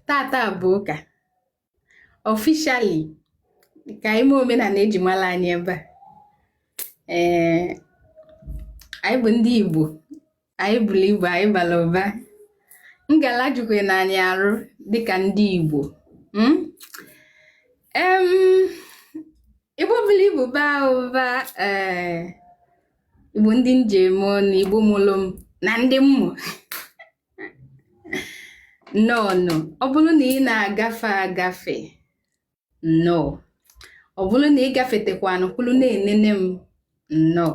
tata bụ ụka officially ka anyị mee omenala eji mara anyị ebe a ee eh, anyị bụ ndị Igbo anyị buru ibu anyị bara ụba ngala jukwe na anyị arụ dịka ndị Igbo hmm? Igbo buru ibu baa ụba ee eh, Igbo ndị m ji eme ọnụ Igbo mụrụ m na ndị m mụ nnọọ nụ ọ bụrụ na ị na-agafe agafe nnọọ ọ bụrụ na ị gafetekwanụ kwụrụ na-enene m nnọọ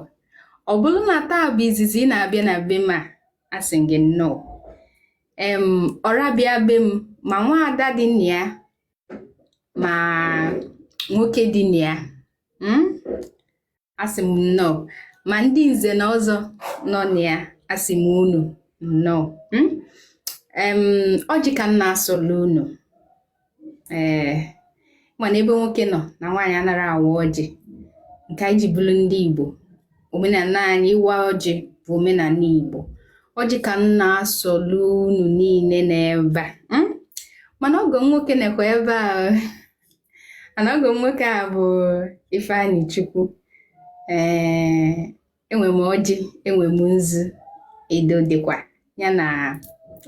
ọ bụrụ na taa bụ izizi ị na-abịa na be m a asị m gị nnọọ em ọra bịa be m ma nwaada dị na ya ma nwoke dị na ya hmm? asị m nnọọ ma ndị nze na ọzọ nọ na ya asị m unu nnọọ hmm? ọjị ka m na-asọlụ unu ee eh, mana ebe nwoke nọ na nwaanyị anara awa ọjị nke anyị ji bụrụ ndị Igbo omenala anyị ịwa ọjị bụ omenala Igbo ọjị ka m na-asọlụ unu niile n'ebe a hmm? mana ọgọ m nwoke nọkwa ebe a and ọgọ m nwoke a bụ Ifeanyị Chukwu ee enwe m ọjị enwe m nzu edo dịkwa ya na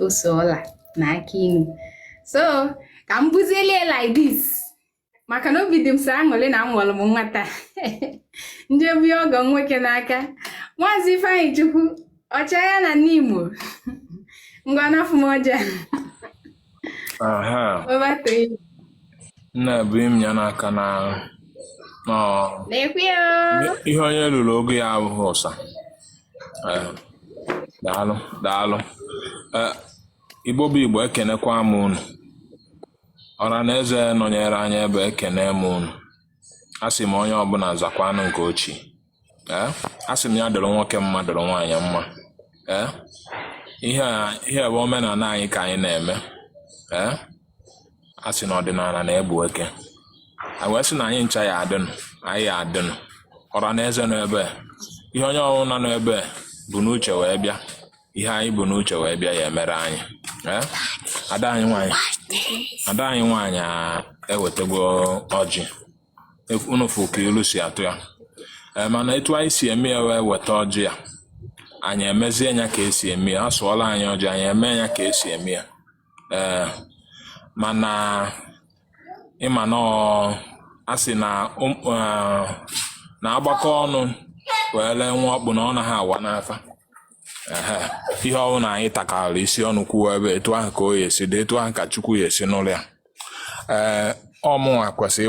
ose ọla na akị inu so ka m buzielie like this maka na obi dị m sọ aṅụrị na amụrụ m nwata m je bunye ọgọ nwoke n'aka maazị Ifeanyị Chukwu Ọchịaya na Nimo ngwa nafụ m ọjị a Aha. What about three? Nna bunye m ya n'aka na na Thank you. ihe onye ruru ogo ya abụghị ụsa. Eh, Daalụ, daalụ. Eh, Igbo bụ Igbo ekenekwa m unu. Ọra na eze nọnyere anyị ebe ekene m unu. Asị m onye ọbụla zakwanụ nke o chi. ee asị m ya dịrị nwoke mma dịrị nwaanyị mma ee ihe a ihe bụ omenala anyị ka anyị na-eme ee a sị na ọdịnala na-egbu eke a wee sị na anyị ncha ya adịnụ anyị ya adịnụ ọra na eze nọ ebe a. ihe onye ọbụla nọ n'ebe a bu n'uche wee bịa ihe anyị bu n'uche wee bịa ya emere anyị ee ada anyị nwaanyị ada anyị nwaanyị a ewetagwo ọjị unu fụ ka ilu si atụ ya Ee, mana etu anyị si eme ya wee weta ọjị ya anyị emezie ya ka esi eme ya asụọla anyị ọjị anyị eme ya ka esi eme ya ee mana ị ma na ọ- a sị na ụm- eh, na agbakọ ọnụ wee lee nwa ọkpụ na ọ naghị awa n'afa Ehe. ihe ọwụna anyị takọrọ isi ọnụ kwuo ebe etu ahụ ka ọ ya esi dị etu ahụ ka chukwu ya esi nụlụ ya ee ọ mụnwa kwesịrị